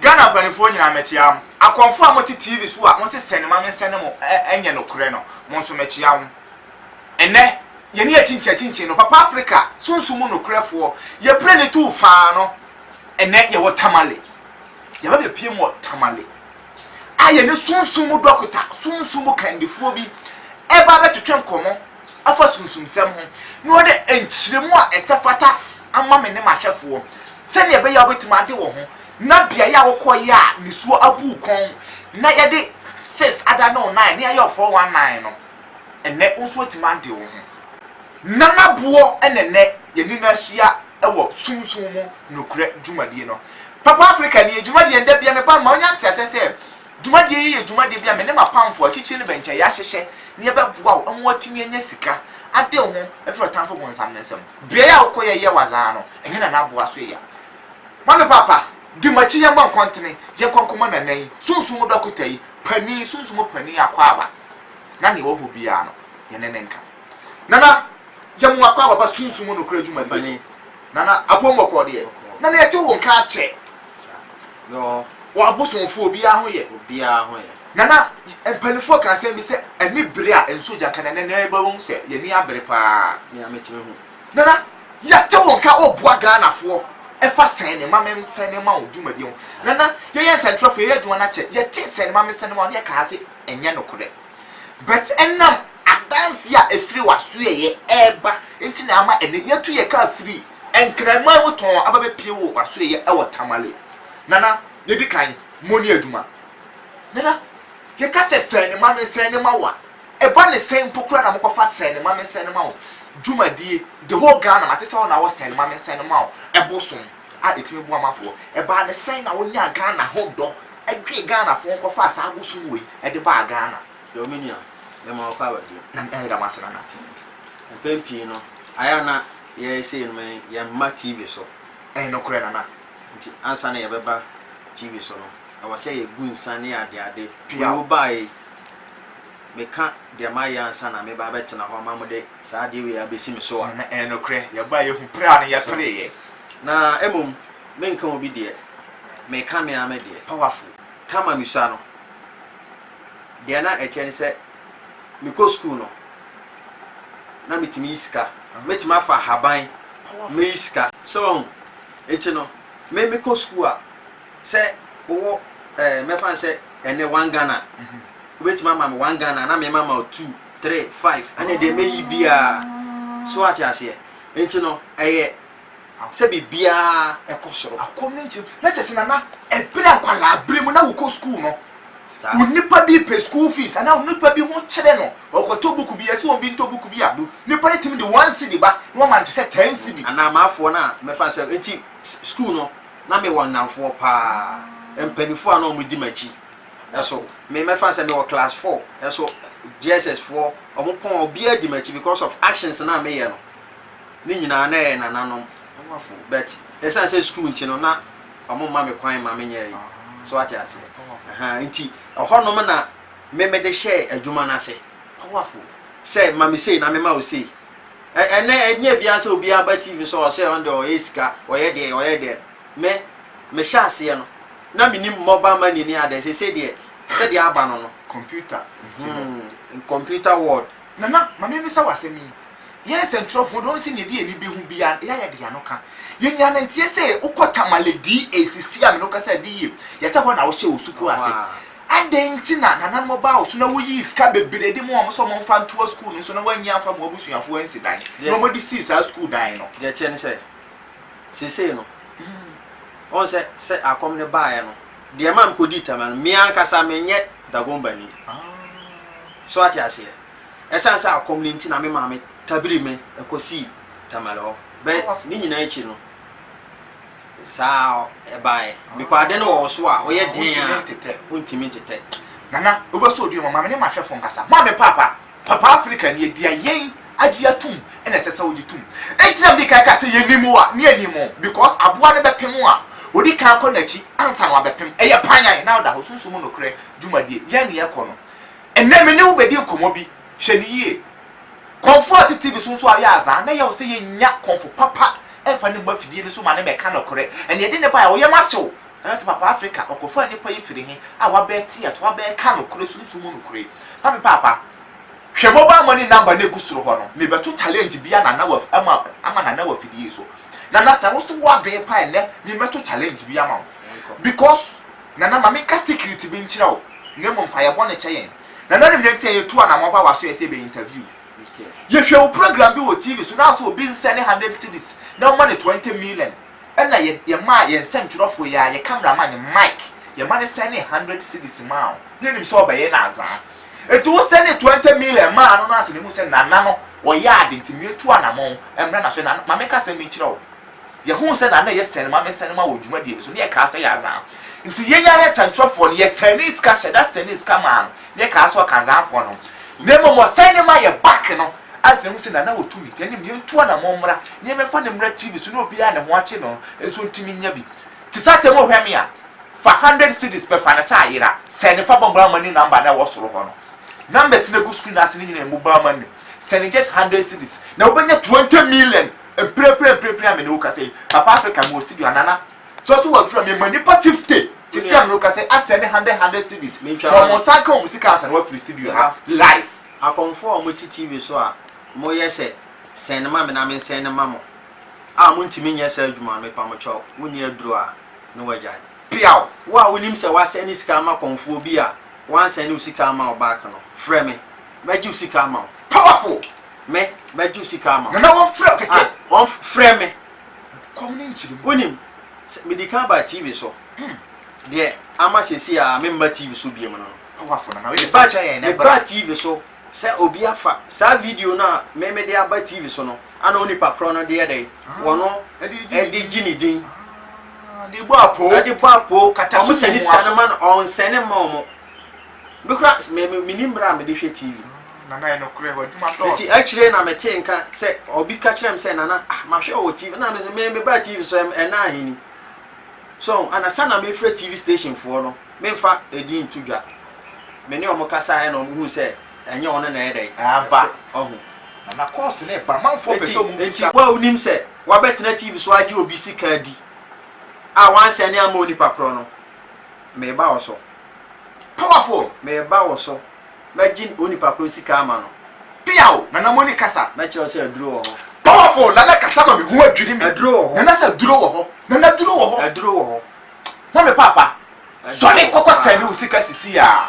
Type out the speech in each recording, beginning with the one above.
Ghana mpaninfoɔ nyinaa mɛkyea mo. Akɔmfoɔ a mote TV so a mose sɛnema mensɛne mo ɛnyɛ nokorɛ no, mo nso mɛkyea mo. Ɛnnɛ, yɛne akyinkyin akyinkyin no, Papa Afrika sunsum mu nokorɛfoɔ, yɛpire no tu faa no. Ɛnnɛ, yɛwɔ Tamale. Yɛaba bɛpiem wɔ Tamale a yɛne sunsum mu dɔkota, sunsum mu kandifoɔ bi ɛreba abɛtwetwe nkɔmmɔ afa sunsumsɛm ho, na wɔde nkyerɛmu a ɛsɛ fata ama me ne m'ahwɛfoɔ, sɛdeɛ ɛbɛyɛ a wobɛtumi ade wo ho, na beaeɛ a wokɔeɛ a nisuo abu wo kɔn, na yɛde sis ada ne wo nan, ne ayɛ wo 419 no, ɛnnɛ wo nso woatumi ade wo ho. Nana Boɔ ɛna ɛnnɛ yɛne no ahyia wɔ sunsum mu nokorɛ dwumadie no. Papa Africani, dwumadie no, da biara meba no, ma wonya nteaseɛ sɛ, Dwumadie yi yɛ dwumadie bi a me ne m'apamfoɔ, akyirikyiri ne bɛnkyɛn, yɛahyehyɛ na yɛbɛboa wo ma woatumi anya sika ade wo ho afiri ɔtamfo bonsam no nsam. Beaeɛ a wokɔ yɛyɛ w'adze ara no, ɛnyɛ Nana Aboa so yɛ. Ma me papa, di m'akyi yɛmmɔ nkɔntene, yɛnkɔ nkɔma Nana yi, Sunsum mu dɔkota yi, panin, Sunsum mu panin Akwaaba, na nea ɔwɔ hɔ biara no, yɛne no nka. Nana, yɛmmoa Akwaaba ba Sunsum mu nokorɛ dwumadie so. Nana apɔw mɔ kɔɔ deɛ. Nana yɛte wo nka akyɛ. Wɔ abosomfoɔ obiara ho yɛ. Obiara ho yɛ. Nana mpanifoɔ ka asɛm bi sɛ ɛne bere a nsuo gya ka na nana ɛba wɔn mu sɛ yɛni abere paa. Nea metumi hu. Nana yɛte wo nka ɔboa Ghanafoɔ ɛfa sɛn ne ma mensɛn ne ma wo dwumadie ho. Nana yɛyɛ nsɛntwerɛfoɔ yɛyɛ adwuma no akyɛ yɛte sɛn ne ma mensɛn ne ma wo ne ɛka ha sɛ ɛnyɛ nokorɛ. But ɛnam adanseɛ a ɛfiri w'asoɛeɛ ɛreba nti na ama ɛnnɛ yɛatu yɛn kaa firi Nkraman mu tɔnn aba bɛpie wo w'asoɛeɛ ɛwɔ Tamale. Nana, yɛdi kan, mo ni adwuma. Nana, yɛka sɛ sɛn ne ma me sɛn ne ma wo a, ɛba ne sɛn mpo koraa na mokɔfa sɛn ne ma me sɛn ne ma wo dwumadie, the whole Ghana mate sɛ wo na wɔ sɛn ne ma me sɛn ne ma wo ɛbosom. a ɛtumi boa mafoɔ ɛbaa no sɛn na wonyaa Ghana ho dɔ dwee Ghana foɔ nkɔfaa saa bosom wei de baa Ghana. Yoo me nua, yɛma wo kɔ abɛdwo. Nana yɛda mo ase nana pii. Mpɛn pii no, ayɛ a na yɛyɛ sei no me yɛmma TV so. Ɛyɛ nokorɛ nana. Nti ansa na yɛbɛba TV so no, ɛwɔ sɛ yɛgu nsa ne ade ade. Wei wo baa yi, meka deɛ mayɛ ansa na meba abɛtena hɔ ama mo de saa adeɛ wei abɛsi me so a. Nana ɛyɛ nokorɛ, yɛbaa yɛhu pere a na yɛpereeɛ. Na mmom menka obi deɛ, meka me ara me deɛ. Powerful. Tama Misua no, deɛ na ɛteɛ ne sɛ mekɔ sukuu no, na metumi yi sika. Mɛtumi afa ahaban, mɛyi sika. So wahu? Nti no, me mekɔ sukuu a, sɛ wowɔ eh, mɛfa no sɛ ɛnnɛ one Ghana a, wobɛtumi ama me one Ghana a, na mema ma wo two, three, five, ɛne deɛ mɛyi biara. So wate aseɛ? Enti no, ɛyɛ sɛ biribiara kɔ soro. Akɔm no nkyem. Na kyerɛ sɛ, Nana, ɛberɛ akwadaa berɛ mu na wokɔ sukuu no, onipa bi pɛ school fees anaa onipa bi ho kyerɛ no, ɔkɔtɔ book bi, yɛse wɔn bi ntɔ book bi a, nipa no tumi de one cedi ba na wama no te sɛ ten cedi. Anaa m'afoɔ no a mɛfa no sɛ, enti sukuu no, na mewɔ nnamfoɔ paa, mpanimfoɔ a na wɔdi m'akyi. so me mɛfa sɛ mewɔ class four ɛso JSS foɔ ɔmo pɔn obiara di m'akyi because of actions na meyɛ no ne nyinaa na ɛyɛ nananom ɔmafo but ɛsan sɛ school nti no na ɔmo ma me kwan ma menyɛ yi so ate aseɛ ɛha nti ɛhɔnom na me mede hyɛɛ adwuma no ase powerful sɛ ma me sei na me ma wo sei ɛnɛ ɛnyɛ biara sɛ obiara ba tv sɛ ɔsɛ ɔno deɛ ɔyɛ sika ɔyɛ deɛ ɔyɛ deɛ me mehyɛ aseɛ no Na menim mobile money ne adɛn seesei deɛ sɛdeɛ aba no no. Computer nti no. Hmm computer world. Nana ma me mmisa wo asɛm yi, yɛn nsɛntwerɛfoɔ deɛ ɔnse neɛ ɛde yɛn ani bɛhu biara no yɛ a yɛde yɛn ano ka. Yɛn nyinaa nanteɛ sɛ wokɔ Tamale DA seesei a me ne wo kasa yi ɛde yie yɛ sɛ hɔ na wohyɛ wo sukuu ase. Adɛn nti na nananom ɔbaa wo so na woyii sika bebree de maa wɔn sɛ wɔmfa ntoa sukuu no so na wɔanyi amfa amma wɔn abusuafoɔ ansi dan na wɔde sii saa sukuu dan no. Deɛ ɛteɛ ne sɛ seesei no Ɔn sɛ sɛ akɔm no baeɛ no, deɛ ɛmaa me kɔdii Tama no, me ankasa menyɛ Dagombani. So wate aseɛ? Ɛsiane sɛ akɔm no nti na me maame tabiri me kɔsii Tamale hɔ. Bɛɛ ne nyinaa akyi no, saa ɛbaeɛ. Bikɔ ade no wɔ wo so a, woyɛ den a, wontumi ntetɛ. Nana, wobɛsɔ dua mu a, ma me ne m'ahwɛfoɔ nkasa. Moa me paapa! Papa Africa nie deɛ yɛn agye atom na ɛsɛ sɛ wogye tom. Enti na mede kan ka sɛ yɛnim o a ne yɛnim o because aboa no bɛpem a ɔdi kan kɔ n'akyi ansa na wabɛpem. Ɛyɛ panyan na ɔda hɔ sunsum mu nokorɛ dwumadie yɛn ne yɛkɔ no. Ɛnnɛ me ne wo bɛdi nkɔmmɔ bi hwɛ no yie. Kɔmfo a ɔte TV so nso ayɛ azaa na ɛyɛ wo sɛ yɛnnya kɔmfo papa mfa ne mmɔ afidie no so ma no mmɛka nokorɛ. Ɛnna yɛde no baeɛ a wo yam ahye wo. Nanso Papa Afrika, ɔkɔfaa nnipa yi firii he a wabɛɛte ato, wabɛɛka nokore Sunsum mu nokore. Papi Paapa, hwɛ mobile money number no a egu soro hɔ no, mebɛto challenge bi a Nana Wafi ama, ama Nana Wafi de yi so. Nana, sɛ wo so wo abee paa nnɛ, memmɛto challenge bi ama wo. Because, Nana, ma menka secret bi nkyerɛ wo, na mmom fa yɛ bɔne kyɛ yɛn. Nana no nɛ nti a yɛtu anamɔ ba w'aso yɛ sɛ yɛbɛyɛ interview. Yɛhwɛ wo program bi wɔ TV so, na asɛ obi nsɛne hundred cedis na woma no twenty million. Ɛna yɛ yɛmaa yɛn nsɛmtwerɛfoɔ yi ara yɛ camera man Mike yɛma no sɛnee hundred cedis maa wo na onim sɛ ɔbɛyɛ no azaa enti wo sɛnee twenty million maa no no ase na ehu sɛ Nana no ɔyɛ ade nti meetu anamɔn mmra n'aso na ma menka asɛm bi nkyerɛ wo yɛhuu sɛ Nana yɛ sɛne ma mesɛne ma wɔ dwumadie no so na yɛkaa sɛ yɛ azaa nti yɛn ara nsɛmtwerɛfoɔ no yɛ sɛnee sika hyɛ da sɛnee sika maa no ne kaa so Ɔkandzaafoɔ no, na mbom ɔsɛɛ ne ma yɛ back no adze hu sɛ Nana wɔ tumi ntɛn ne mu, yɛntu anamɔn mmra na yɛmɛfa no mmra TV so na obiara ne ho akye no nso ntumi nnya bi. Te sɛ atɛm wohwɛ me a, fa hundred cedis pɛ fa ne sɛ ayera, sɛn ne fa bɔ Mobile Money number no a ɛwɔ soro hɔ no. Numbers no gu screen ase no nyinaa yɛ Mobile Money. Sɛn ne just hundred cedis na wobɛnya twenty million mprempren mprempren a me ne wo kasa yi. Papa Africa mewɔ studio ha, Nana. So so wɔdwira me ma nnipa fifty te sɛ mmere ka sɛ asɛ ne hundred hundred cedis Mentwa na wɔn wɔn. nsa ka wɔn sika asa na wɔafiri studio ha live. Akɔmfoɔ a wɔte TV so a moyɛ sɛ sɛn no ma me na mensɛn no mma mo a montumi nyɛ saa adwuma no mepa mo kyɛw wonni aduro a ne wagyae. Peaw! Wo a wonim sɛ woasɛne sika ama akɔmfoɔ bi a woansɛne wo sika amma wo back no, frɛ me, mɛgye wo sika ama wo. Powerful! Me, mɛgye wo sika ama wo. Nana wɔmfrɛ wo kɛkɛ. Ah, wɔmf, frɛ me. Kɔm ne nkyere mu. Wonim, sɛ medi kan baa TV so, deɛ ama seesei a memma TV so bio no, mebaa TV so sɛ obi afa saa video no a me mede aba TV so no ana onipa korɔ no de yɛ dɛn? Wɔno de gye ne din, de bɔ apoo, wɔn sɛne sika no ma no, ɔnsɛne mma wɔn. Me koraa s me me mennim berɛ a mede hwɛ TV. Nana ɛyɛ nokorɛ w'adwuma dɔɔso. Nti akyire na metee nka sɛ obi ka kyerɛɛ me sɛ Nana ah mahwɛ wɔ TV na mese me mebaa TV so ɛm ɛna ahe ni. So ana sa na mefrɛ TV station foɔ no memfa edin nto dwa. Me ne wɔn kasaeɛ ɛna wɔn huu sɛ ɛnyɛ wɔn na ɛyɛ dɛn ɛreba ɔho. Nana course no ɛba amanfoɔ pɛ Nti sɛ wɔn nti bisa. wo a wonim sɛ wabɛtena TV so agye obi sika adi a wansɛne amma onipa korɔ no mereba wo so. Powerful! Mereba wo so. Mɛgye onipa koro sika ama no. Peaw! Nana Moni kasa. Mɛkyerɛ wo sɛ aduro wɔ hɔ. Powerful! Nana kasa ma me ho adwiri me. Aduro wɔ hɔ. Nana sɛ aduro wɔ hɔ. Nana aduro wɔ hɔ. Aduro wɔ hɔ. Na me papa. Sɔre kɔkɔ sɛn ne wo sika sisi a.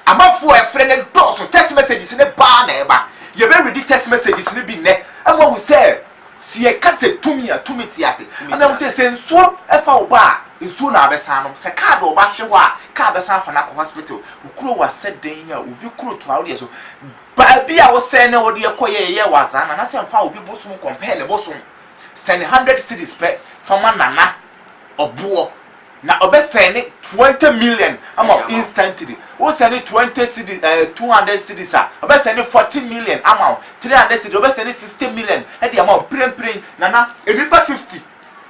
Amanfoɔ a ɛfrɛ no dɔɔso. Text messages no baa na ɛba. Yɛbɛ readi text messages no bi nnɛ. Ama wahu sɛ. Se yɛka sɛ tumi a, tumi te ase. Ɛna mu sɛ, sɛ nsuo fa wo ba a, nsuo na wabɛsan anom. Sɛ kaa de wo ba hwe hɔ a, kaa bɛsan afa no akɔ hospital. Wo kuro wasɛ dɛn a, obi kuro toa wo deɛ so. Baabi a wo sɛɛ ne wo deɛ kɔ yɛ yɛ yɛ wazaa nana sɛ nfa obi bosom compare ne bosom. Sɛne hundred cedis pɛ fa ma nana ɔboɔ. Na ɔbɛ sɛne twenty million ama wo instantly wo sɛne twenty cedis ɛɛ eh, two hundred cedis a ɔbɛ sɛne forty million ama wo three hundred cedis ɔbɛ sɛne sixty million ɛde ama wo pirempirem nana enipa fifty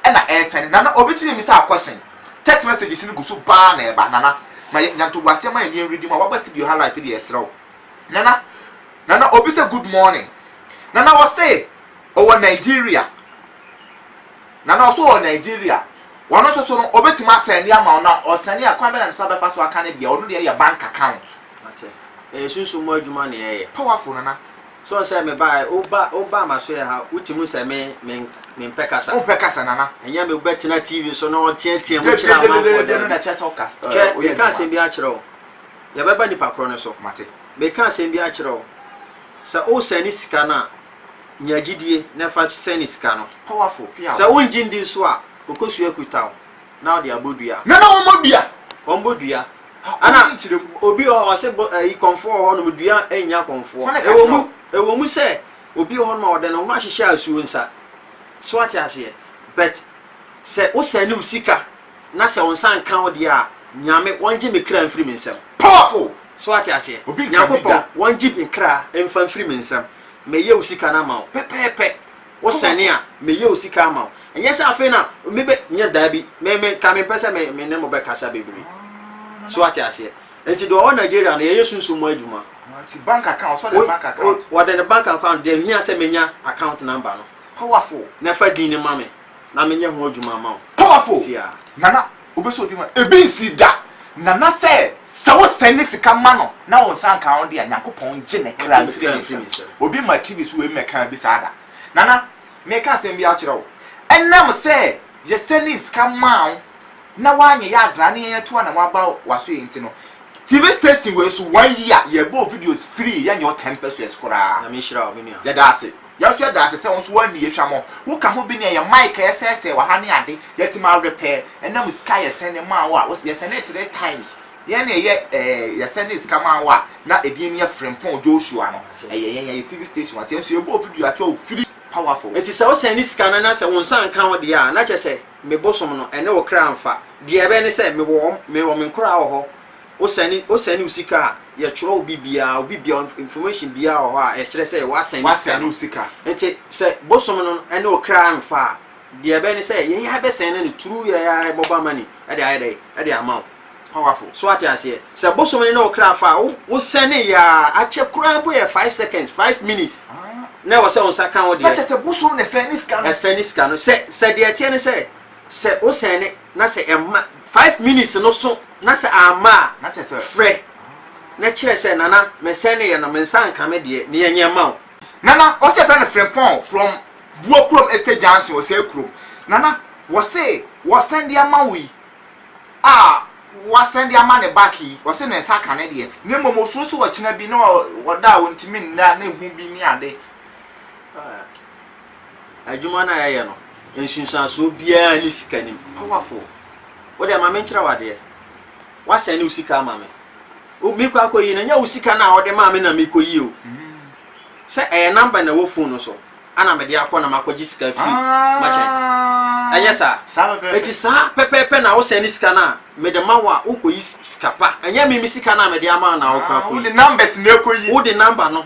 ɛna ɛsɛne nana obi tiri mi sɛ akɔhyɛn text messages no gu so baa na ɛba nana ma yɛ nyanto bu aseɛ ma yɛ nneɛm redi mu a waba studio ha life deɛ ɛsrɛ wo nana nana obi sɛ good morning nana ɔse ɔwɔ Nigeria. Na na ɔso wɔ Nigeria. Ɔno nso so no ɔbɛtumi asɛne ama wo na ɔsɛne a kwan bɛ na ne sa bɛfa so aka no deɛ ɔno deɛ yɛ bank account. Wate. Ɛyɛ sunsum mu adwuma na yɛyɛ. Powerful nana. So ɔn sɛ me ba ɛ wo ba wo ba ma so yɛ ha wo ti mu sɛ me me me mpɛ kasa. Wompɛ kasa nana. Ɛnyɛ me bɛ tena TV so na ɔtea tea mu kyerɛ amanfoɔ daabi. Hwɛ me ka asɛm bi akyerɛ wo yɛ bɛ ba nipa korɔ no so. Mate. Me ka asɛm bi akyerɛ wo sɛ wo sɛne sika no a. Nya gyidie na fa sɛne sika no. Sɛ wongye ndi nso a, ɔkɔsua kuta wo na ɔde abɔ dua. Nana wɔmmɔ dua? Wɔmmɔ dua. Ana obi wɔ hɔ ɔse ayi kɔmfoɔ wɔ hɔnom dua nnya kɔmfoɔ. Ɛwɔ mu ɛwɔ mu sɛ obi wɔ hɔnom a ɔde ne ho ahyehyɛ asuo nsa. So ate aseɛ? But sɛ wo sɛne wo sika na sɛ wo nsa nka wo deɛ a, Nyame wɔngye me kra mfiri me nsam. Powerful! So ate aseɛ? Nyankopɔn wɔngye me kra mfa mfiri me nsam. Mɛyɛ wo sika no ama wo pɛpɛɛpɛ. Wosɛne a, mɛyɛ wo sika ama wo. Ɛnyɛ sɛ afei na mebɛ, nyɛ daabi. Me, me, nka mempɛ sɛ me, me ne mo bɛkasa bebree. So wate aseɛ? Nti deɛ ɔwɔ Nigeria no, yɛyɛ sunsum mu adwuma. Nti bank account, sɛ ɔde bank account. O, ɔde ne bank account, deɛ hia sɛ menya account number no. Powerful. Na fa din no ma me, na menyɛ ho adwuma ama wo. Powerful! Siaa. Nana. Wobɛsɔ obi ma ebi nsii da, nana sɛ sɛ wosɛn ne sika ma no na wo nsa nka ho de a, Nyankopɔn ngye ne kra mfiri ne nsam. Obi ma TV so wei mmɛkaa bi saa da. Nana, meka asɛm bi akyerɛ wo. Ɛnam sɛ yɛsɛnee sika maa wo na woanyɛ yɛ azena ne yɛn atu anam aba w'asoɛe nti no, TV station wei so one year yɛbɔɔ videos firii yɛnyɛ wo ten pesewas koraa. Nyame nhyira wo, me nua. Yɛda ase. Yɛso yɛda ase sɛ wo nso woanni yɛ hwammɔ. Wo ka ho bi ne ɛyɛ mic a yɛsɛɛsɛɛ wɔ ha ne ade. Yɛte ma awerɛ pɛɛ. Ɛna mu sika a yɛsɛn de maa wo a, wose yɛsɛnee three times. Yɛn na yɛyɛ ɛɛ yɛsɛnee sika maa wo a na edin no yɛ Frimpong Joshua no. Ɛyɛ yɛn, yɛyɛ TV station wate. Yɛn nso yɛbɔɔ video ato a ofiri powerful. Enti sɛ wosɛn ne sika no na sɛ wo nsa nka ho deɛ a, na kyerɛ sɛ me bosom no ɛne wo kra mfa. Deɛ ɛbɛyɛ ne sɛ mewɔ wɔn, mewɔ me nkoraa wɔ hɔ. Wo sɛne wo sɛne wo sika a yɛ twerɛ obi biaa obi biaa information biaa wɔ hɔ a ɛkyerɛ sɛ wa sɛne sika no nti sɛ bosom no ɛne wo kra nfa a deɛ ɛbɛyɛ ne sɛ yɛn yɛ bɛ sɛne no through yɛ yɛ mobile money ɛde ayɛ dɛ ɛde ama wo powerful so ate aseɛ sɛ bosom no ne wo kra fa a wo wo sɛne yɛ a akyɛ koraa mpo yɛ 5 seconds 5 minutes na ɛwɔ sɛ wo nsa ka wo deɛ ɛsɛne sika no sɛ sɛ deɛ ɛteɛ ne sɛ. Sɛ wo sɛne na sɛ ɛma five minutes no so na sɛ amma a Na kyerɛ sɛ. frɛ na kyerɛ sɛ Nana me sɛneeɛ no me nsa anka me deɛ nea nyɛ ma wo. Nana ɔse yɛfrɛ no Frimpong from Buokurom Estate Junction Osei Kurom Nana wɔse wɔsɛnde ama wo yi a wasɛnde ama ne back yi ɔse ne nsa ka ne deɛ na mmom ɔsuro sɛ ɔkyena bi na ɔda a ɔntumi nna na ɛhu bi ne ade. Adwuma no a yɛyɛ no, nsunsuansoɔ biara nni sika no mu. Powerful! Wo deɛ ma me nkyerɛ wo adeɛ. Woasɛne wo sika ama me. Wo mekɔ akɔyi no, ɛnyɛ wo sika no a wode maa me na mekɔyi o. Sɛ ɛyɛ number na ɛwɔ phone no so, ana mede akɔ na makɔgye sika firi merchant. Ɛnyɛ saa. Saa pɛpɛɛpɛ. Eti saa pɛpɛɛpɛ na wosɛne sika no a mede ma wo a wokɔyi sika pa. Ɛnyɛ me me sika no a mede ama wo na wokɔ Ah, akɔyi. wode numbers na ɛkɔyi. Wode number no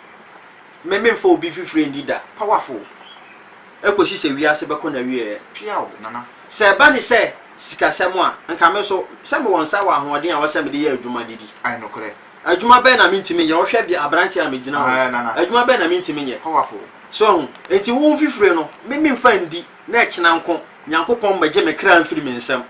Me memfa obi fifire nni da. Powerful! Ɛkɔsi sɛ wiase bɛkɔ n'awieɛ. Piaw, Nana. Sɛ ɛba ne sɛ sikasɛm a, nka me nso, sɛ mewɔ nsa wɔ ahoɔden a ɛwɔ sɛ mede yɛ adwuma de di. Ae, nokorɛ. Adwuma bɛn na mentumi nyɛ? Wohwɛ bia aberanteɛ a megyina hɔ yi, Ae, Nana. adwuma bɛn na mentumi nyɛ? Powerful! So ahu? Enti wo fifire no, me memfa nndi, na ɛkyena nko, Nyankopɔn mmɛgye me kra mfiri me nsam.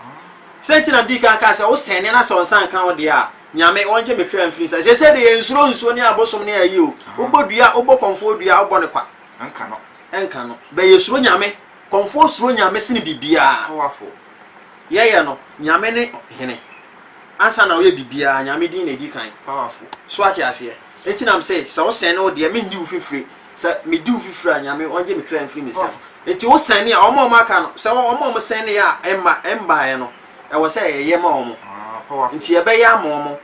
Sɛ nti na medii kan kaa sɛ, wosɛnneɛ na sɛ wo nsa nka wo deɛ a, Nyame ɔngye me kra mfiri nsa. Sese de yɛnsuro nsuo ne abosom ne ayi o. Wobɔ dua, wobɔ kɔmfoɔ dua, wobɔ no kwa. Ɛnka no. Ɛnka no. Bɛ yɛsuro Nyame. Kɔmfoɔ suro Nyame sene bibiaa. Powerful. Yɛyɛ no, Nyame ne Hene. Ansa na woyɛ bibiaa, Nyame din na ɛdi kan. Powerful. So woate aseɛ? Enti na mese, sɛ wo sɛne wo deɛ, mengye wo fifire. Sɛ me di wo fifire a, Nyame ɔngye me kra mfiri me nsam. Enti wo sɛne a, wɔn a wɔaka no, sɛ wɔn a wɔsɛneɛ a ɛmma, ɛmbaeɛ no, ɛwɔ sɛ ɛyɛ ma wɔn. Nti ɛbɛyɛ ama wɔn,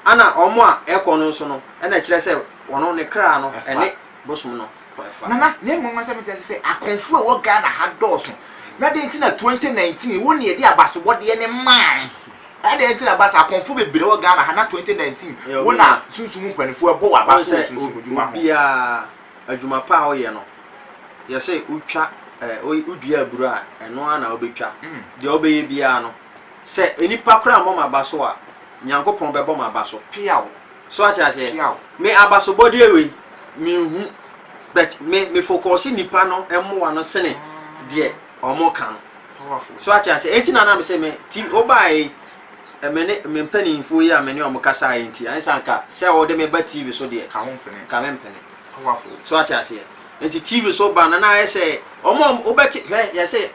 ɛna wɔn a ɛkɔ no nso no, ɛna ɛkyerɛ sɛ wɔn ne kra no ɛne bosom no ɛfa. Nana, na mmom asɛm nti ɛsɛ sɛ akɔmfoɔ a ɛwɔ Ghana ha dɔɔso. Na dɛn nti na 2019 wo na yɛde abasobɔdeɛ no maa wo? Adɛn nti na ɛba saa? Akɔmfoɔ bebree wɔ Ghana ha na 2019 wo na sunsum mpanimfoɔ ɛbɔ wo abaso wɔ sunsum adwuma ho. Obiara adwuma pa a woyɛ no, yɛse wotwa eh, wodua aburo a, ɛno ara na wobɛtwa. Mm. Deɛ wobɛyɛ biara no, sɛ nnipa koraa mmɔ m'aba so a, Nyankopɔn bɛbɔ m'aba so. Piaw. So ate aseɛ? Piaw. Me abasobɔdeɛ wei, menhu, but me me focus nnipa no mmoa no sene mm. deɛ wɔn ka no. Powerful. So ate aseɛ? Enti na na me se me ti wobaeɛ me ne me mpanimfoɔ yi a me ne wɔn kasaeɛ yi nti, ansa anka sɛ wɔde me ba TV so deɛ, ka ho mpene. ka me mpene. Awafo. So ate aseɛ? Nti TV so ba no na ayɛ sɛ wɔn a wobɛte hwɛ yɛ sɛ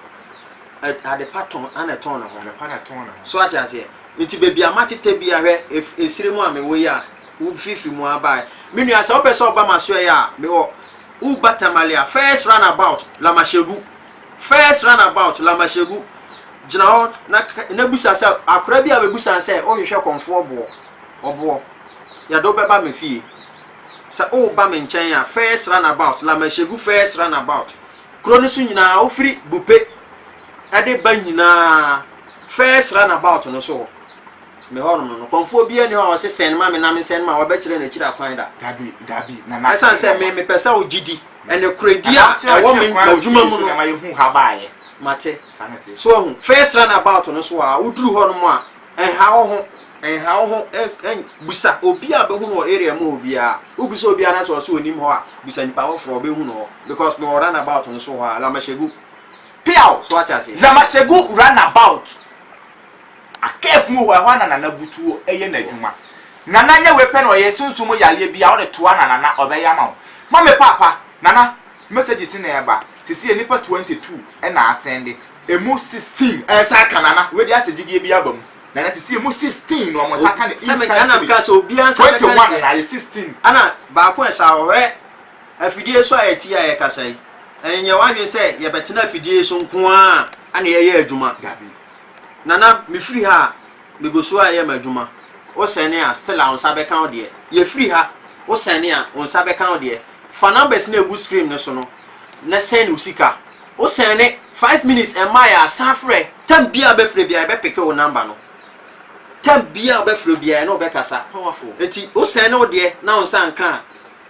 adepa tɔn ana ɛtɔn ne ho. Adepa na ɛtɔn ne ho. So ate aseɛ? Nti baabi a matete bi ahwɛ esire mu a mewɔ yi a wofifiri mu abae. Me nua sɛ wopɛ sɛ ɔba ma soɛ a mewɔ Uba Tamale a first run about Lamashegu. First runabout, Lamahyɛgu, gyina hɔ na ka, na bisa sɛ, Akora bi a ɔbɛbusan sɛ, Wohwehwɛ kɔmfoɔ boɔ? Ɔboɔ. Yɛde wo bɛba me fie. Sɛ woreba me nkyɛn a, first runabout, Lamahyɛgu first runabout, kuro no so nyinaa, wofiri Bupe de ba nyinaa, first runabout no so hɔ. Me hɔnom no, nokɔmfoɔ biara ni hɔ a ɔse sɛn ma me na mensɛn ma wɔbɛkyerɛ no akyiri akwan da. Dabi, dabi, Nana. Ɛsan sɛ me mepɛ sɛ wo gyidi, ɛne korɛdi a ɛwɔ me adwuma mu no. Mate. So wahu? First run about no so a woduru hɔnom a, ɛnha wo ho, ɛnha wo ho, busa obi a bɛhu no wɔ area mu hɔ biara. Wobisa obi anaasɛ ɔse onim hɔ a, busa nipa foforɔ ɔbɛhu no hɔ because mewɔ run about no so hɔ a, Lamashegu. Peaw! So wate aseɛ? Lamashegu run about. Akɛɛfo mu hɔ ɛhɔ na nana butuo yɛ nadwuma nana nyɛ wei pɛ na ɔyɛ sunsum mu yareɛ bia wode toa na nana ɔbɛyɛ ama wo ma me paapa nana messages na ɛba sesie nipa 22 na asɛnde ɛmu 16 nsa aka nana wei deɛ asɛ gyidie bia aba mu nana sesie ɛmu 16 na ɔmo nsa aka ne sɛme ɛna meka sɛ obia nsa bɛka 21 na ayɛ 16 ɛna baako ɛsa ɔhwɛ afidie so a yɛti a yɛkasa yi ɛnyɛ wadwen sɛ yɛbɛtena afidie so nkoaa na yɛyɛ adwuma dabi. Nana mefiri ha a megu so a yɛ m'adwuma wo sɛne a still a wo nsa bɛka wo deɛ yɛfiri ha wo sɛne a wo nsa bɛka wo deɛ fa numbers no ɛgu screen no so no na sɛne wo sika wo sɛne 5 minutes ɛma yɛ asan frɛ tam bia wobɛfrɛ bia yɛbɛpeke wo number no tam bia wobɛfrɛ bia ɛne wobɛkasa nti wo sɛne wo deɛ na wo nsa nka a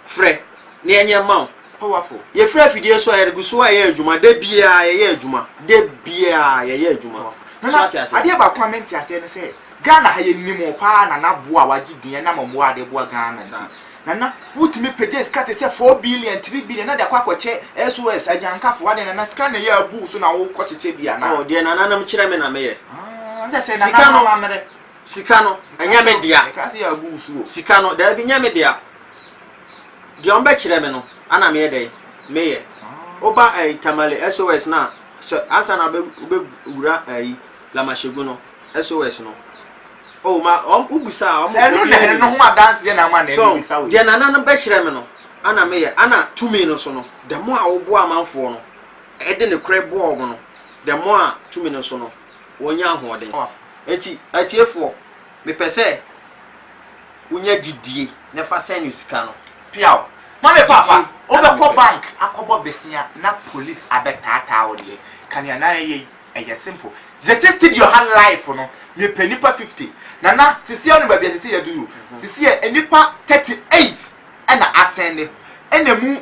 Frɛ, na yɛnyɛ mma wo. Powerful. Yɛfiri afidie so a yɛde gu so a yɛyɛ adwuma. Da biara yɛyɛ adwuma. Da biara yɛyɛ adwuma. So ate aseɛ? Adeɛ baako a mente aseɛ ne sɛ Ghana ha yɛnim wo paa Nana boa a wagye din ɛnam mmoa a wode boa Ghana nti. Nana wotumi pagya sika te sɛ four billion, three billion na de akɔ akɔkyɛ SOS, Agyankafo, adɛn Nana sika na ɛyɛ abu wo so na wokɔ kyekyɛ bi anaa? Oh, deɛ nananom kyerɛ me na meyɛ. Ah, ɛnkyɛ sɛ Sika nananom no- amammerɛ. Sika no, ɛnyɛ me dea. Sika no, daabi, nyɛ me dea. Deɛ wɔn bɛkyerɛ me no, ana meyɛ dɛ, meyɛ. Woba ɛyi eh, tamale SOS na sɛ ansa na wobɛwura ɛyi eh, lamahyegu no SOS no. Oh ma wɔn wobisa a wɔn. Ɛno na ɛno ho adanseɛ na ama na ɛno bisa wo. Deɛ nana no bɛkyerɛ me no, ana meyɛ. Ana tumi no so no, dɛm a woboa amanfoɔ no, ɛde ne korɛ boa wɔn no, dɛm a tumi no so no. wɔnya ahoɔden. Enti, atiefoɔ, mepɛ sɛ wonya gyidie na fa sɛn no sika no. Piaw. Na me papa, wobɛkɔ bank akɔbɔ besia na police abɛtaataa wo deɛ, ka nea na ɛyɛ yi, ɛyɛ simple. Yɛte studio ha live no, mepɛ nnipa fifty. Nana, sesie ano baabi a ɛsɛ sɛ yɛadu yi o. Sesie, nnipa thirty eight na asɛnde, ɛna ɛmu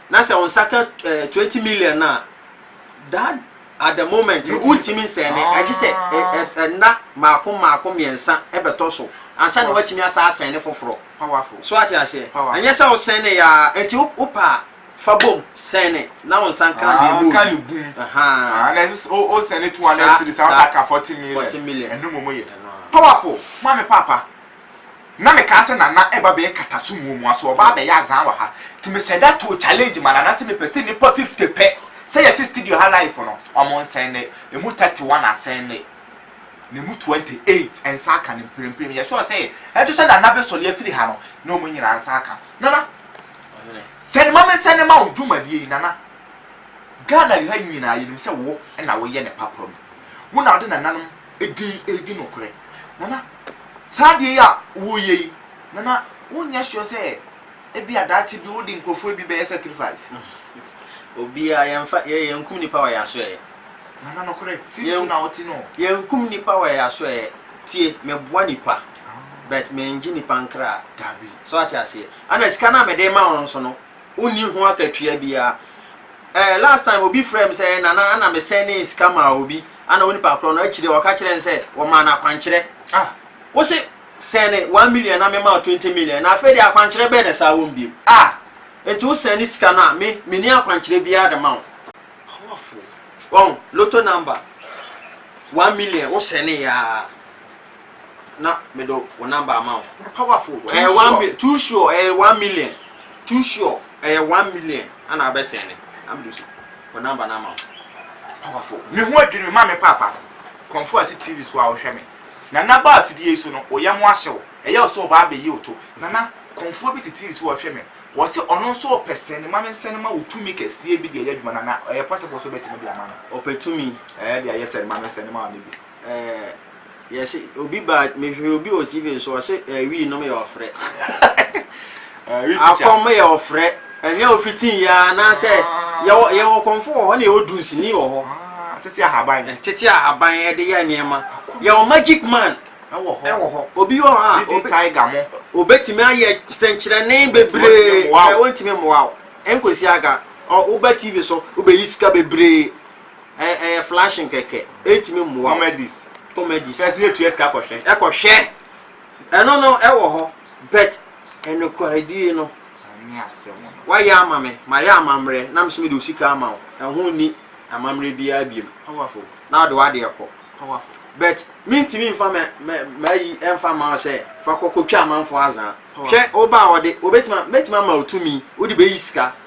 Na sɛ wo nsa ka eh, twenty million no a, that at the moment no Wotumi wontumi nsɛn ne agye sɛ ɛ- Ah. ɛ- ɛnna mmaako mmaako mmiɛnsa ɛbɛtɔ so ansa na Wa- woatumi asa asɛn ne foforɔ Powerful. so ate aseɛ Powerful. ɛnyɛ sɛ wosɛn ne yaa nti wo- wopɛ a fa bom sɛn ne na wo nsa nka Ah, deɛ nka ne ɛmu bum. Ah, Ahaa. na ɛsɛ sɛ wo- wo send it 200 Saa- cedis a, wo saa- sa ka 40 million. 40 million. Ɛno mmom yɛ. Ɛno a. Powerful. Maame Paapa. Na me kaa sɛ Nana ɛba bɛyɛ kataso muamua so ɔba abɛyɛ azaa wɔ ha nti me hyɛ da too challenge ma Nana sɛ me pɛ sɛ nnipa fifty pɛ sɛ yɛ te studio ha live no ɔmo nsɛnde ɛmu thirty one asɛnde na ɛmu twenty eight nsa aka no mprempren yɛ sure sɛ ɛnto sɛ Nana bɛ sɔre afiri ha no na ɔmo nyinaa nsa aka Nana sɛn ma me sɛn ma wo dwumadie yi Nana Ghana ha nyinaa yɛnim sɛ wo na woyɛ ne papa mu wo na wode nananom din redi nokorɛ, na na saa adeɛ yi a woreyɛ yi, na na wonyɛ sure sɛ ebia daakye bi wode nkurɔfoɔ bi bɛyɛ sacrifice. Obiara, yɛmfa, yɛ, yɛnkum nipa wɔ yɛn asoɛeɛ. Nana nokorɛ, tim so Yɛn- na wote no. Yɛnkum nipa wɔ yɛn asoɛeɛ. Tie, meboa nipa, but mengye nipa nkra. Dabi. So ate aseɛ? Ɛna sika no a mede rema wo no nso no, wonni ho akatua biara. Eh, last time obi frɛ me sɛ eh, nana ana me sɛnee sika maa obi ana onipa korɔ no akyire ɔka kyerɛ ne sɛ wɔmaa no akwankyerɛ. Ah, wo se sɛne one million na mema wo twenty million na afei de akwankyerɛ bɛɛ na saa wɔm biom. Ah, nti wo sɛne sika no a me menni akwankyerɛ biara de ma wo. Powerful. Wɔn, lotto number one million wo sɛnee aa. na me do wo number ama wo. Powerful. Too eh, sure. One, too sure. Eh, one million. Too sure. Eh, one million. Ana abe send. I'm do see. Wo number na ama wo. Powerful. Me ho adwene me ma me papa. Konfo ati TV so a wo hwe me. Na na ba afidie so no, oyɛ mo ahye wo. Ɛyɛ so ba abe yi oto. Na na konfo bi te TV so ɔhwe me. Wɔ se ɔno nso ɔpɛ sɛn ma me nsɛn ma wotumi kɛseɛ bi deɛ yɛ adwuma na na ɛyɛ possible so bɛtumi de ama no. Ɔpɛ tumi. Ɛyɛ deɛ yɛ sɛn ma me nsɛn ma ɔne bi. eh, yɛse obi baa mehwɛ obi wɔ tv nso ɔse eh, wii nom yɛ ɔfrɛ akɔm yɛ ɔfrɛ ɛnyɛ ofitin yɛ anaasɛ yɛwɔ kɔmfo wɔ hɔ na yɛwɔ dunsini wɔ hɔ ah, tete ahaban eh, tete ahaban ɛde eh, yɛ nneɛma yɛwɔ magic man ɛwɔ hɔ obi wɔ hɔ a obetumi ayɛ sɛnkyerɛnne bebree ɛwɔ ntumi mmoa wo nkosi aga wobɛ tv so wobɛyi sika bebree Ɛ ɛyɛ flashing kɛkɛ. Ɛntumi mmoa wo. Comedies. Comedies. Sɛ sɛ yɛtua sika kɔhwɛ. Ɛkɔhwɛ. Ɛno no ɛwɔ hɔ but ɛnokwaredie no. Ɛnyɛ asɛm no. Woayɛ ama me, mayɛ amammerɛ na me nso mede wo sika ama wo. Ɛho nni amammerɛ biara biom. Powerful. Na wode w'adeɛ kɔ. Powerful. But mentumi mfa mɛ mɛ m'ayi ɛmfa mma wo sɛ fa kɔ kɔtwa amanfoɔ azaa. Powerful. Hwɛ wo ba a ɔde, ɔbɛtumi a, mɛtumi ama wo tumi wode bɛyi sika.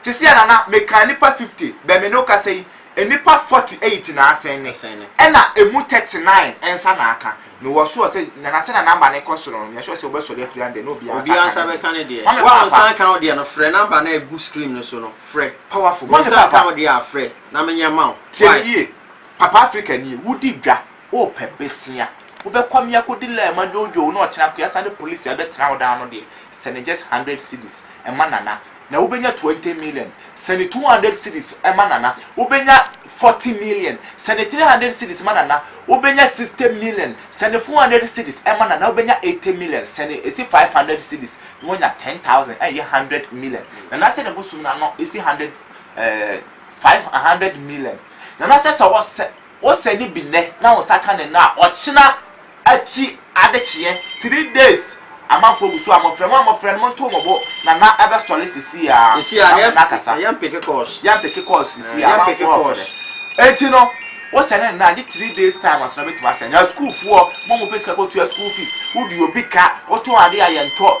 Sesei a na na mekaa nnipa fifty bɛ me ne wo kasa yi, nnipa forty eight na asɛn me, ɛna ɛmu thirty nine nsa na aka. Mewɔ sure sɛ Nana sɛnea number no kɔ soro no, meyɛ sure sɛ wobɛsɔre afiri ha ndɛ na obiara nsa aka ne deɛ. Mame Paapa. Wo a wo nsa aka wo deɛ no, frɛ number no a ɛgu screen no so no, frɛ. Powerful. Wo Mame nsa aka Paapa. wo deɛ a, frɛ na menyɛ mma wo. Tie me Why? yie, Papa Africa nie, wodi dwa, Wopɛ bɛsia wobɛkɔ me akɔdi laa ma dwoodwoo na ɔkyena koa sa ne police a ɛbɛtena wo daa no deɛ sɛne just hundred cedis ɛma Nana na wobɛnya twenty million sɛne two hundred cedis ɛma Nana wobɛnya forty million sɛne three hundred cedis ma Nana wobɛnya sixty million sɛne four hundred cedis ɛma Nana wobɛnya eighty million sɛne ɛsi five hundred cedis na wonya ten thousand ɛyɛ hundred million Nana sɛ ne bosom no ano ɛsi hundred ɛɛ five hundred million Nana sɛ sɛ wɔsɛ Wo sɛ no bi nnɛ na wo nsa ka no nnɛ a, ɔkyena akyi ade kyeɛ, three days, amanfoɔ gu so a mofrɛ mo a mofrɛ no monto mo bo, Nana bɛsɔre sesei ara na mo nna kasa. Yɛmpeke calls. Yɛmpeke calls sesei ara, amanfoɔ refrɛ. Enti no, wo sɛ no nnɛ a, gye three days time ansa na bɛtumi asɛn. Na sukuufoɔ, mo a mopɛ sika kɔtua school fees, wode obi ka, wotɔn adeɛ a yɛntɔ,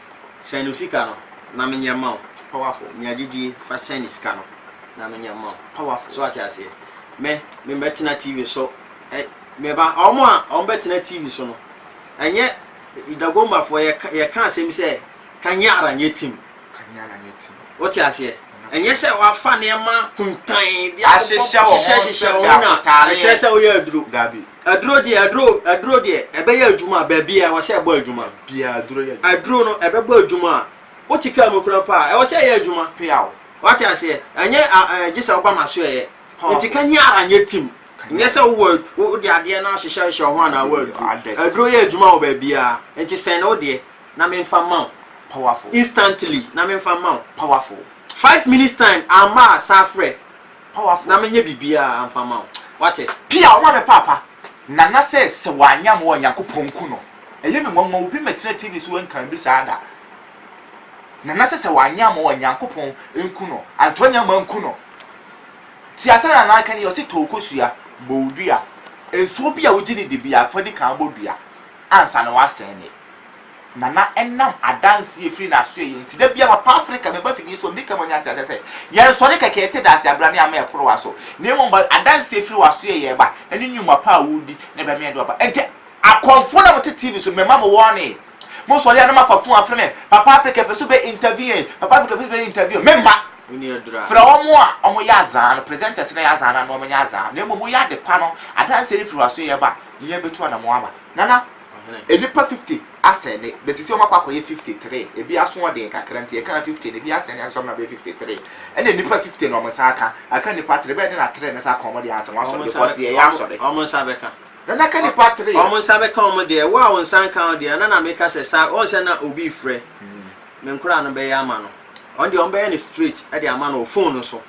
Sɛn no sika no, na menyɛ mma wo. Powerful. Nya gyidie, fa sɛn no sika no, na menyɛ mma wo. Powerful. So wate aseɛ? Me, me bɛtena TV so, ɛ, me ba, wɔn a wɔn bɛtena TV so no, ɛnyɛ, Dagombafoɔ, yɛ, yɛ ka asɛm sɛ, Kanyara nyɛ tim. Kanyara nyɛ tim. Wote aseɛ? Ɛnyɛ sɛ wɔafa nneɛma kuntann bi abobɔ, hyehyɛ, hyehyɛ wɔn na ɛkyerɛ sɛ woyɛ aduro. Dabi. Aduro deɛ aduro aduro deɛ ɛbɛyɛ adwuma a baabi a ɛwɔ sɛ ɛbɔ adwuma. Baabi a aduro yɛ adwuma. Aduro no ɛbɛbɔ adwuma a wote kaa mu kura mpo a ɛwɔ sɛ ɛyɛ adwuma peaw. Wate aseɛ? Ɛnyɛ a ɛɛ gye sɛ woba m'aso ɛyɛ. Nti ka nyɛ ara nyɛ tim. Nyɛ sɛ wowɔ wode adeɛ no ahyehyɛ hyɛ wo ho anaa wo aduro. Aduro yɛ adwuma wɔ baabi ara. Nti sɛn ne wo deɛ na me mfa mma wo. Powerful. Instantly na me mfa mma wo. Powerful. Five minutes time amma a san frɛ. Powerful. Na menyɛ biribiara amfa mma wo. Woate? Pia, ɔma me paapa. Nana sɛ sɛ wanyɛ mmoa a Nyankopɔn nku no. Ɛyɛ me nwanwa, obi mmɛtena TV so ɛnka bi saa da. Nana sɛ sɛ wanyɛ mmoa a Nyankopɔn nku no. Antonia mma nku no. Tie asɛm Nana reka no yie, ɔse tɔw kosua, bɔw dua. Nsuo bi a wogye no di biara, fa di kan bɔ dua ansa na woasɛn ne. na na ɛnam adanse a ɛfiri n'asoɛ yɛ nti. Da biara papa Afrika bɛba afidie so a, ɔmdi kan ɔnya nteaseɛ sɛ, yɛnsɔre kɛkɛ yɛte dase abrane ama yɛ korowa so, na mmom ba adanse a ɛfiri w'asoɛ yɛ ba, ɛne nnwuma pa a woredi, na ɛbɛma yɛn dɔ aba. Enti akɔmfoɔ no a mote TV so no, mɛma mo warning. Mosɔre a na moafa fon afrɛ me, papa Afrika yɛpɛ sɛ wobɛ interview yɛn, papa Afrika yɛpɛ sɛ wobɛ interview yɛn. Memma! Frɛ wɔn a wɔyɛ azaa no, presenters no a ɛyɛ azaa no ano, wɔnyɛ azaa, na mmom woyɛ ade pa no, adanse a ɛfiri w'asoɛ yɛ ba, yɛn bɛtu anammɔn aba. Nana. Nnipa fifty asɛnde, bɛsisi wɔn akɔ akɔyɛ fifty three, ɛbi asoɔden kakra nti ɛkaa fifty no, ɛbi asɛnde asesa wɔn abɛyɛ fifty three, ɛna nnipa fifty no wɔn nsa aka, aka nnipa three, bɛyɛ dɛn na three no nsa aka wɔn deɛ ansa, wɔn asɔre because yɛyɛ asɔre. Wɔn nsa bɛka. Nana aka nnipa three. Wɔn nsa bɛka wɔn deɛ, wo a wo nsa nka wo deɛ, na na meka sɛ saa, wɔn sɛ na obi refrɛ, me nkoraa no bɛyɛ ama no, wɔn deɛ wɔn bɛyɛ no straight de ama no wɔ phone no so,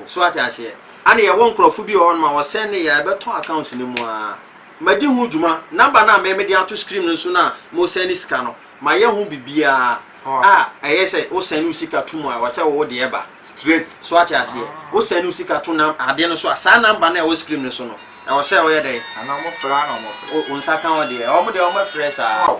so wate aseɛ, ɛna yɛwɔ nkorɔfoɔ bi wɔ hɔ nom a wɔsɛnde yɛ a ɛbɛtɔ accounts no mu aa. Madi ho dwuma. Number no a me mede ato screen no so no a mo send sika no, mayɛ ho biribiara a ɛyɛ sɛ wo send wo sika to mu a ɛwɔ sɛ wo de ɛba straight. So ate aseɛ? Wo send wo sika to nam adeɛ no so a, saa number no a ɛwɔ screen no so no, ɛwɔ sɛ woyɛ dɛn? Anaa wɔn frɛ a na wɔn frɛ. Wo nsa ka wo deɛ. Wɔn deɛ wɔn frɛ saa.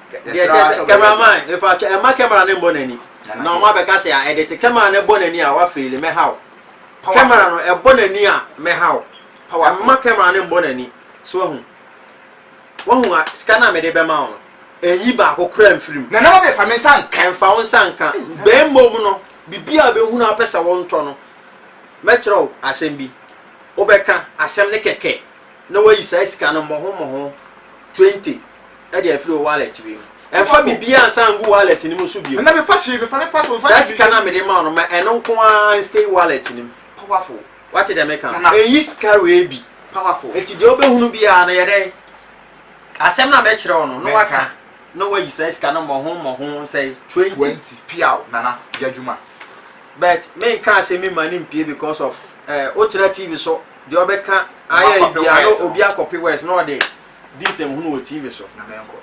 deɛ kyɛ sɛ cameraman mepatwɛ ɛma camera ne mbɔ n'ani na ɔmo abɛka sɛ a ɛde te camera no ɛbɔ n'ani a wafeeli mɛha wo camera no ɛbɔ n'ani a mɛha wo ɛma camera no mbɔ n'ani so wahu wahu a sika no a mede bɛma wo no ɛnyi baako kora mfiri mu na nama mefa me nsa nka ɛmfa wo nsa nka bɛn mmom no biribi a bɛhunu apɛ sɛ wo ntɔ no mɛkyerɛ wo asɛm bi wobɛka asɛm no kɛkɛ na wayi saa sika no mmɔho mmɔho 20 ɛde afiri wo wallet wei mu ɛmfa biribiara nsa ngu wallet no mu nso bio ɛna mefa hwee mefa me passport mfa saa sika no a mede ma no ma ɛno nko ara nstay wallet no mu powerful wate dɛ meka no ɛyi sika wei bi powerful nti deɛ wobɛhunu biara no yɛ dɛn asɛm no a mɛkyerɛ wo no na waka na wayi saa sika no mmɔho mmɔho sɛ 20 20 piaw nana yɛ adwuma but menka sɛ me ma no mpie because of eh, wotena tv so deɛ ɔbɛka ayɛ bia no obi akɔpe west na ɔde di nsɛmhunu wɔ TV so na menkɔ.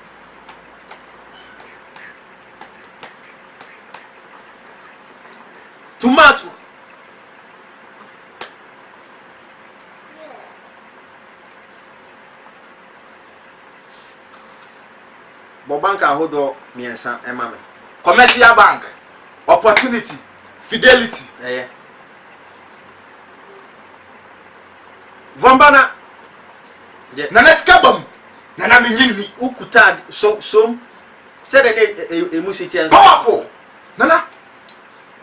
Tomato. Bɔ bank ahodoɔ mmiɛnsa ɛma me. Commercial bank, opportunity, fidelity ɛyɛ. Vɔmbana. Deɛ. Nana sika bam. Nana mi nyi ni. Ukuta so som. Sɛdeɛ ne e, e, emu si teɛ nso. Powerful. Nana.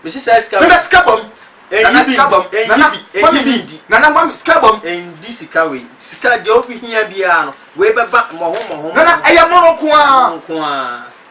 Mesi saa sika bam. Nana sika bam. Nana sika bam. Nana mami mi ndi. Nana mami sika bam. Ndi sika wei. Sika deɛ ofi hia biara no. Wei bɛba mɔho mɔho. Nana ɛyɛ mono nkoaa. Mono nkoaa.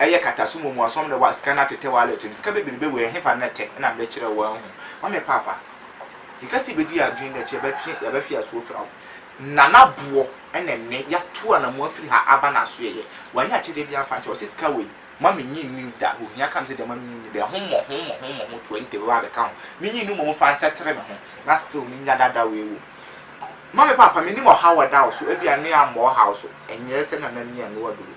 Ɛyɛ kataso mu mu asom na wa sika no atetɛ wallet no sika bebrebe wei ɛhefa na ɛtɛ ɛna mede kyerɛ wo wanhu ma me paapa yɛka sɛ yɛbɛdi adwene na kyɛ bɛtwe yɛbɛhwe asoɔ fira wo nana boɔ ɛna ɛnɛ yɛato anamo afiri ha aba na aso yɛyɛ wanya akyɛdeɛ bi amfa nkyɛ ɔsɛ sika wei ma menyi nnim da ohia kam sɛ deɛ ma menyi nnim da ɛho mmɔ ho mmɔ ho mmɔ ho 20 bɛba abɛka ho menyi nnim mmɔ fa nsɛtere me ho na still menya dada wei wom ma me paapa mennim ɔhaw a ɛda wo so ebia ne ammɔ ɔhaw so ɛnyɛ sɛ nana ni a ne waduru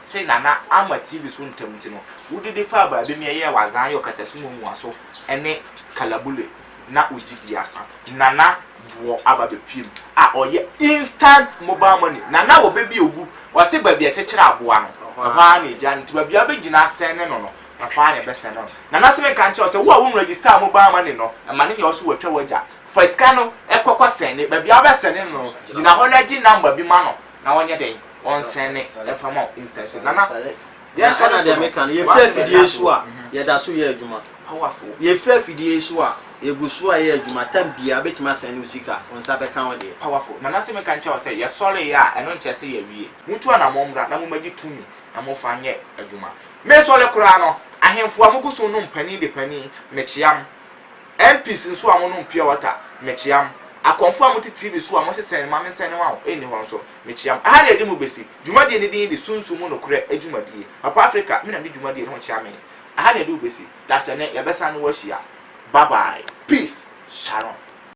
se na na ama TV so ntam nti no, wode de faa baabi ma ɛyɛɛ w'adzaa yɛ ɔkatasu mu omuaso ne kalabule na wo gyidi asa. Nana Boɔ aba bɛpuee mu a ɔyɛ instant mobile money. Nana wɔ bɛ bi a ogu, ɔse baabi a ɛkyekyere aboa no, ɛhɔ ara na egyaa no nti baabi a wobɛgyina asɛne no no, ɛhɔ ara na ɛbɛsɛne no. Nana se menka nkyerɛ wo sɛ wo a wonregister mobile money no, ma no nyɛ wo so watwa w'agya. Fa sika no kɔ kɔsɛne, baabi a wobɛsɛne no no, gyina hɔ na gye number bi ma no. na ɔnyɛ dɛn ɔnsɛne ɛmfa ma wo instantly nana yɛn sɛ na deɛ meka no yɛfiri afidie so a mhm. yɛda so yɛ adwuma powerful yɛfiri afidie so a yɛgu so a yɛ adwuma tam biara bɛtumi asɛne wo sika wo nsa bɛka wo deɛ powerful nana sɛ meka nkyɛ wo sɛ yɛsɔreeɛ a ɛno nkyɛ sɛ yɛwie motu anammɔ mmra na momagye tumi na mofa nyɛ adwuma mesɔre koraa no ahemfo a mogu so no mpanin de panin mekyeam MPs nso a mo nom pure water, me kyea mo. Akɔmfoɔ a mo te TV so a mo se sɛn me ma me nsɛn ne ma wo nni hɔ nso, me kyea mo. Ɛha na yɛde mo besi dwumadie no din de Sunsum mu Nokorɛ Adwumadie. Papa Africa, me na mede dwumadie no ho kyea me. Ɛha na yɛde wo besi. Dasene, yɛbɛsan ne wo ahyia. Bye bye. Peace. Shalom.